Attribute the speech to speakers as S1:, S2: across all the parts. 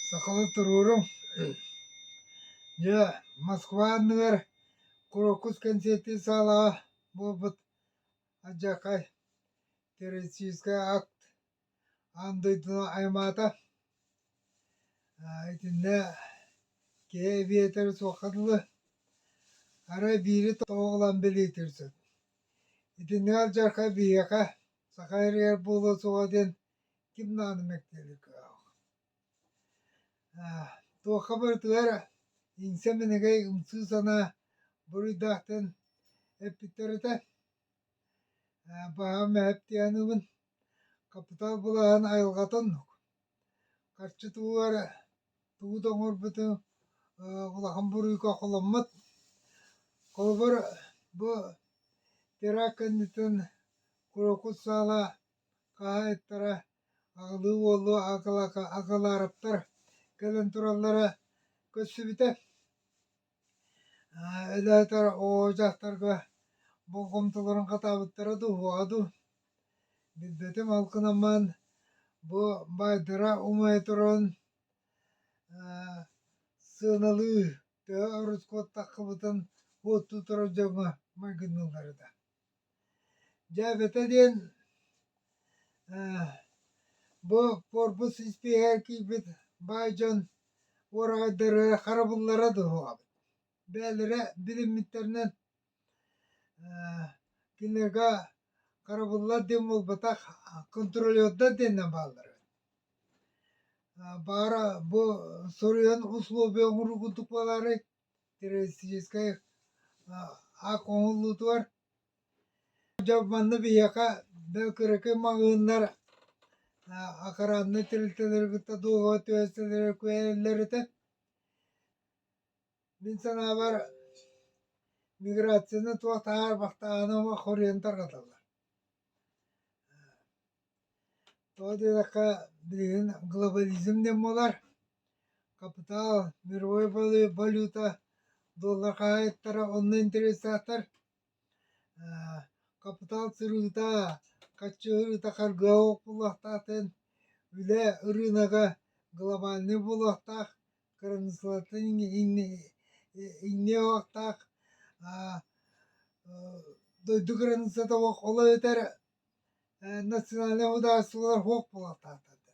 S1: Сахалыы туруорум. Дьэ, Москва анныгар Курокус концерти саалаҕа буолбут Адьакай террористическай акт Аан дойдуну аймаата. итиннэ киһи эбиэтэрэ суохха дылы, арай биири тоҕо ылан билиитин сөп. Итиннэ алдьархай биһиэхэ саха ириэр буолуо суоҕа диэн ким даҕаны мэктиэлик туохха барытыгар иҥсэ-минигэй ымсыы санаа буруйдаахтан эппиттэр этэ. Баҕам эһэптиээнибин хапытаал былаһын айылҕатын харчытыгар тугу да оҥорбутум улахан буруйга холоммут. Холобур бу теракт кэнниттэн курокут саала хаһаайыттара аҕылыы уолу акылаарыптар кэлэн тураллара көрсүбүтэ. Өлөөтөр оо дьахтарга болҕомтолорун хатаабыттара дуо дуу? Билбэтим ол гынан бу баайдара умайа туран сыаналыы төһө оруску аттаххыбытын уоттуу турар дьоҥҥо майгынныыллара да Дьээбэтэ диэн ээ бу куорпус испииһэгэ киирбит баай дьон уораҕайдара харабыллара дуо? Бэйэлэрэ билиммиттэринэн ээ кинигэ харабыллар диэн буолбатах контролердар диэнинэн бааллар эбит. Баара бу суруйан условия оҥоруу курдук буолаарай? террористическай ак оҥоһуллуутугар дьэ манна биһиэхэ бэл кыракый маҕаһыыннар акараннай тэрилтэлэри кытта дуоһуба түһэстэлэрэ куйэллэр этэ мин санаабар миграцияны туох таһаарбахтаҕына хоруйан тарҕаталлар Тоҕо диэтэххэ, билигин глобализм диэн буолар, хапытаал, мировой валюта, доллар хаһаайыттара онно интересаахтар. Хапытаал сырыыта, хаччыһырыыта харгыһа буолуохтаахтын, үлэ ырыынага глобальнай буолуохтаах, кыраныыссалартан иҥниэ суохтаах. Дойду кыраныыссата олох өтөр национальнай судаарыстыбалар суох буолатаатарда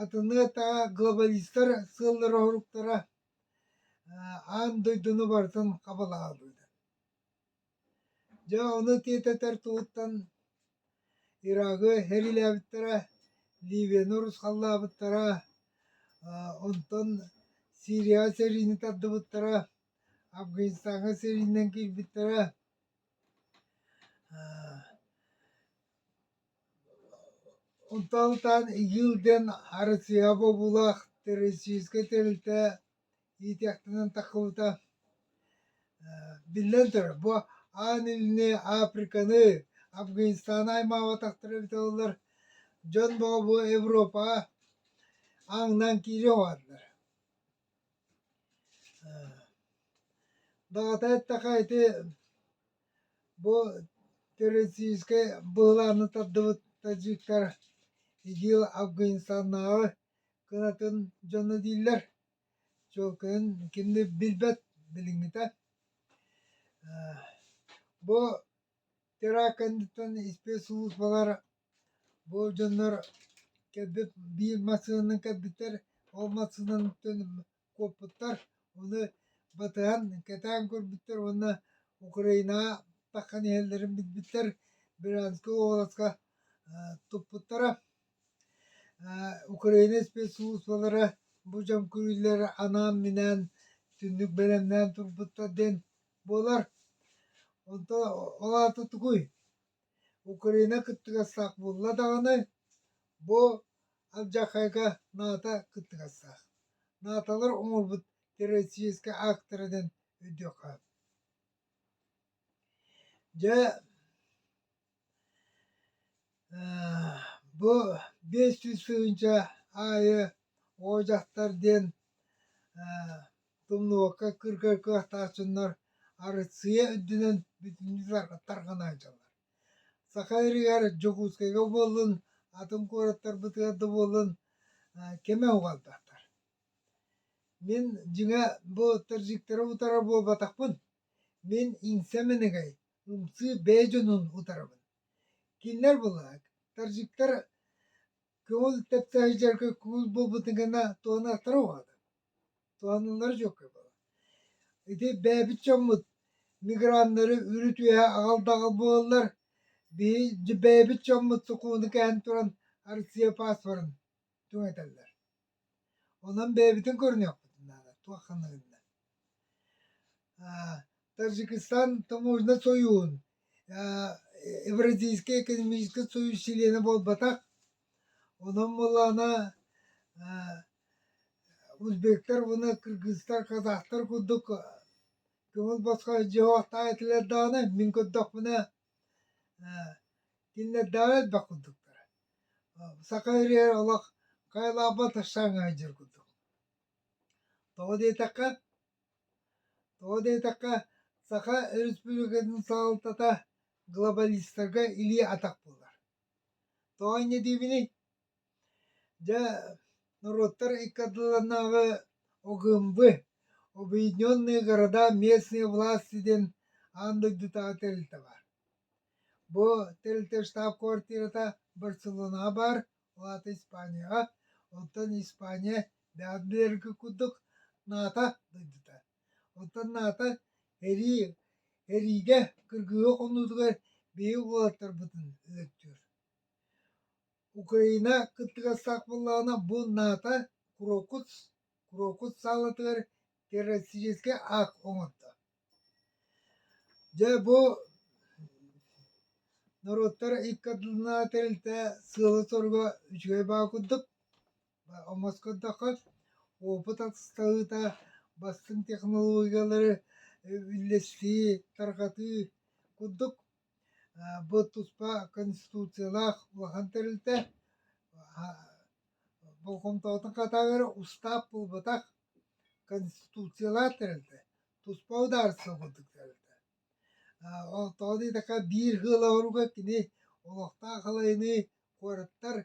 S1: атыныы эттэҕэ глобалистар сыаллара уруктара аан дойдуну барытын хабылаалыыра дьэ ону тиэтэтэр туһуттан ирагы хэрилээбиттэрэ ливияны урусхаллаабыттара онтон сирияҕа сэриини тардыбыттара афганистаҥҥа сэриинэн киирбиттэрэ Онтон-онтон Иил диэн Арыдьыйа бобуулаах российскай тэрилтэ иитиэхтэнэн таххыбыта. Биллэн турар, бу аан илини Африканы, Афганистаны аймаабатахтара эбит буоллар, дьон бөҕө бу Европаҕа аҥынан киириэн баҕардар Даҕата эттэххэ ити бу терористическай быһылааны тардыбыт таджиктар ИДИЛ Афганистаннааҕы кынатын дьоно дииллэр. Чуолкайын кинини билбэт, билиҥҥитэ. Бу теракт кэнниттэн испиэс службалар Бу дьоннор кэлбит биир массыынаны көрбүттэр, ол массыынаттан куоппуттар, ону батыһан кэтээн көрбүттэр уонна Украинаҕа тахсан иһэллэрин билбиттэр, бразильскай уобаласка туппуттара. Украина спецслужбалара бу дьон көрүүлэр анаан-минээн түннүк бэлэмнээн турбуттар диэн буолар. Онтон ол аата тугуй? Украина кыттыгастаах буолла даҕаны, бу алдьархайга наата кыттыгастаах. Нааталар оҥорбут террористическай аактара диэн өйдүөххэ. Дьэ, бу биэс сүүс тыһыынча аайы О дьахтар диэн Тумнуокка кыргар кыахтаах дьоннор Арыссыыйа үрдүнэн бүтүннүү тарҕанааччылар. Саха Сиригэр Дьокуускайга буоллун, атын куораттарбытыгар да буоллун, кэмэ уҕалдахтар. Мин дьиҥэ бу таджиктары утары буолбатахпын. Мин иҥсэ-минигэй, ымсыы бэйэ дьонун утарабын. Кинилэр былаһык, таджиктар көҥүл тэпсэ сылдьарга куул буолбутун гына туһанаттара уҕатын. Туһаныллара дьүөккэ буолар. Ити бэйэбит дьоммут миграннары үрүт-үөһэ аҕал-даҕал буолаллар. Биһи бэйэбит дьоммут суккуну кээн туран Россия паспорын түҥэтэллэр. Онон бэйэбитин көрүнүөхпүтүн наада туох ханна гынна. Таджикистан таможня союһун Евразийскай экономическай союз чилиэнэ буолбатах. Онон буоллаҕына Узбектар уонна кыргызтар, казахтар курдук көҥүл босхо дьоһох таайтылар даҕаны мин көрдөхпүнэ кинилэрдээҕи элбэх курдуктара. Саха ириһэр олох хайалаахбат ышаан ыһайдьыр курдук. Тоҕо диэтэххэ, тоҕо диэтэххэ Саха Өрөспүүбүлүкэтин салалтата глобалистарга илии атах буолар. Тоҕо инньэ диибиний? Дьэ, норуоттар иккардыларынааҕы ОГМВ Объединенные города местные власти диэн аан дойдутааҕы тэрилтэ баар. Бу тэрилтэ штаб-квартирата Барселонаҕа баар, ол аата Испанияҕа, оттон Испания даардыйарга курдук наата дойдута. Оттон наата эрии, эриигэ, кыргыһыы хонуутугар биһиги уолаттарбытын өлөртүөр. Украина кыттыгастаах буоллаҕына, бу наата куруоккут куруоккут саалатыгар террористическай акт оҥордо. Дьэ бу норуоттар икки ардыларынааҕы тэрилтэ сыала-соруга үчүгэй баҕа курдук. Омоско көрдөххө, опыт атыстаһыыта, бастыҥ технологиялары үллэстии, тарҕатыы курдук Бу туспа конституциялаах улахан тэрилтэ болҕомтоҕутун хатаҕыгар устаап буолбатах конституциялаах тэрилтэ туспа судаарыстыба курдук тэрилтэ тоҕо диэтэххэ биир ыал оҕоругар кини олохтоох халайыныы Куораттар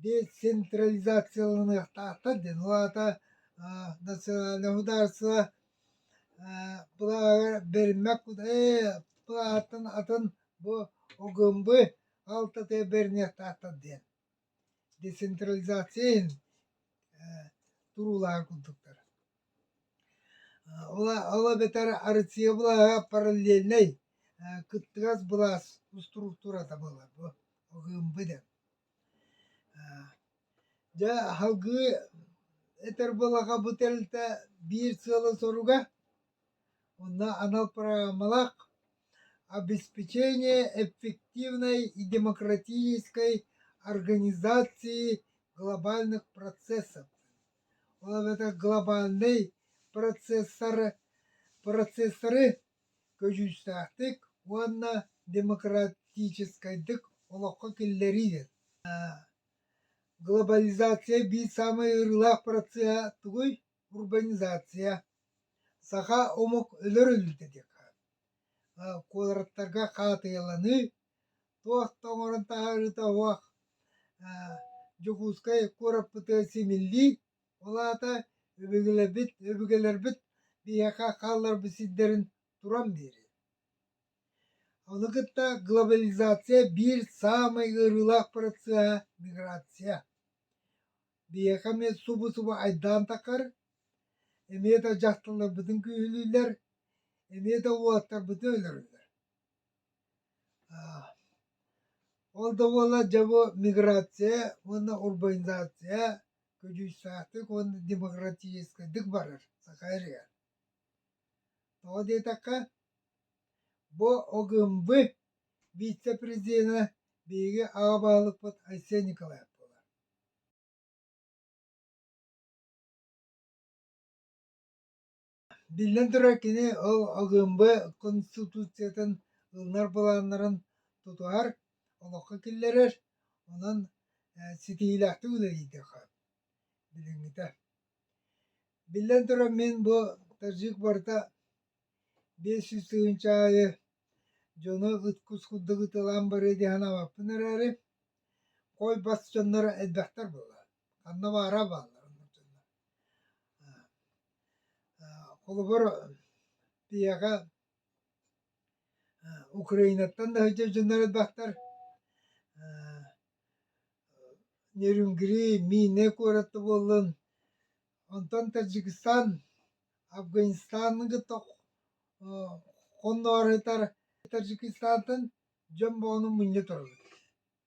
S1: децентрализацияланыахтаахтар диэн, ол аата национальнай судаарыстыба былааҕар бэриммэт былаһааттан атын бу ОГМБ алтатыгар бэриниэхтаахтар диэн. Децентрализация иһин туруулааһын курдуктар. Ол эбэтэр арытыйабылаһа параллельнай кыттыгас былаас устуруктурата буолар бу ОГМБ да. Дьэ аһылгыы этэр буоллаха бу тэрилтэ биир сыала-соруга онно анал программалаах обеспечение эффективной и демократической организации глобальных процессов. Ол эбэтэр глобальнай процессары, процессары көдьүүстээхтик уонна демократическайдык олоххо киллэрии. Глобализация биир саамай ыарыылаах процеһа тугуй? Урбанизация. Саха омук өлөр-өлүүтэ диэххэ. Куораттарга хаатыйаланыы Туох да оҥорон таһаарыыта уһах, Дьокуускай куораппытыгар симиллии, ол аата өбүгэлэрбит өбүгэлэрбит биһиэхэ хаалларбыт сирдэрин туран биэрэр. Ону кытта глобализация биир саамай ыарыылаах процеһа – миграция. Биһиэхэ эмиэ субу-субу айдаан таххар, эмиэ да дьахталларбытын күүһүлүүллэр, эмиэ да уолаттарбытын өлөрөллөр. Ол да буоллар дьэ бу миграция уонна урбанизация көдьүүстээхтик уонна демократическайдык барар саха ырыа. Тоҕо диэтэххэ бу ОГМВ вице-президенэ биһиги аҕа баһылыкпыт Айсен Николаев буолар. Биллэн турар, кини ол АГМБ Конституциятын ылынар былааннарын тутуһар, олоххо киллэрэр, онон ситиһиилээхтик үлэлииһиэххэ билиҥҥитэ. Биллэн турар, мин бу таджик барыта биэс сүүс тыһыынча аайы дьону ыткус курдук ытылаан барыа диэн санаабаппын эрээри, кой бас дьоннор элбэхтэр буоллар. Ханна баара бааллар мурдалар. Холобур, биһиэхэ Украинаттан да сылдьар дьоннор элбэхтэр. Нерюнгри, Миинэ куораты буоллун, онтон Таджикистан, Афганистаны кытта хонноорутар Таджикистантан дьон боону мунньа турабыт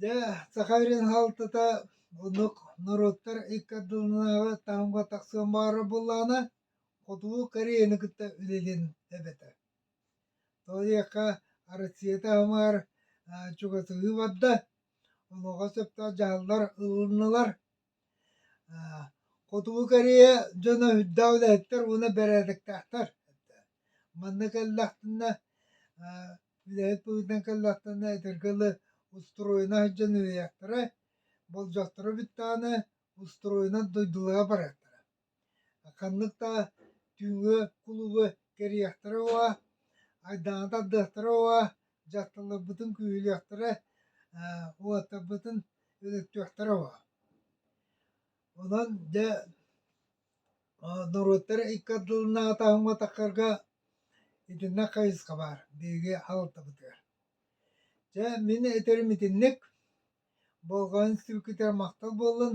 S1: Дьэ, саха сирин салалтата оннук норуоттар икки ардыларынааҕы таһымга тахсыан баҕарар буоллаҕына, хотугу Кореяны кытта үлэлиэн эбэтэ. Тоҕо диэххэ, Россия таһымыгар чугасыһыы барда, онуоха сөптөөх дьаһаллар ылыннылар. Хотугу Корея дьоно үрдээх үлэһиттэр уонна бэрээдэктээхтэр. Манна кэллэхтинэ үлэһит быһыытынан кэллэхтинэ этэргэ дылы устуруойна сылдьан үһүйэхтэрэ, болдьохторо бүттэҕинэ устуруойунан дойдулара барыахтара Ханнык да түүҥҥү кулуубу кэрийиэхтэрэ уо, айдааны тардыахтара уо, дьахталларбытын күүһүрүөхтэрэ ээ уолаттарбытын өлөртүөхтэрэ уо. Онон дьэ норуоттар икки ардыларынааҕыта ааһымматахтарга итиннэ хайысха баар биһиги аҕалтарбытыгар. Дьэ мин этэрим итинник болҕойон сүргүтэр махтал буоллун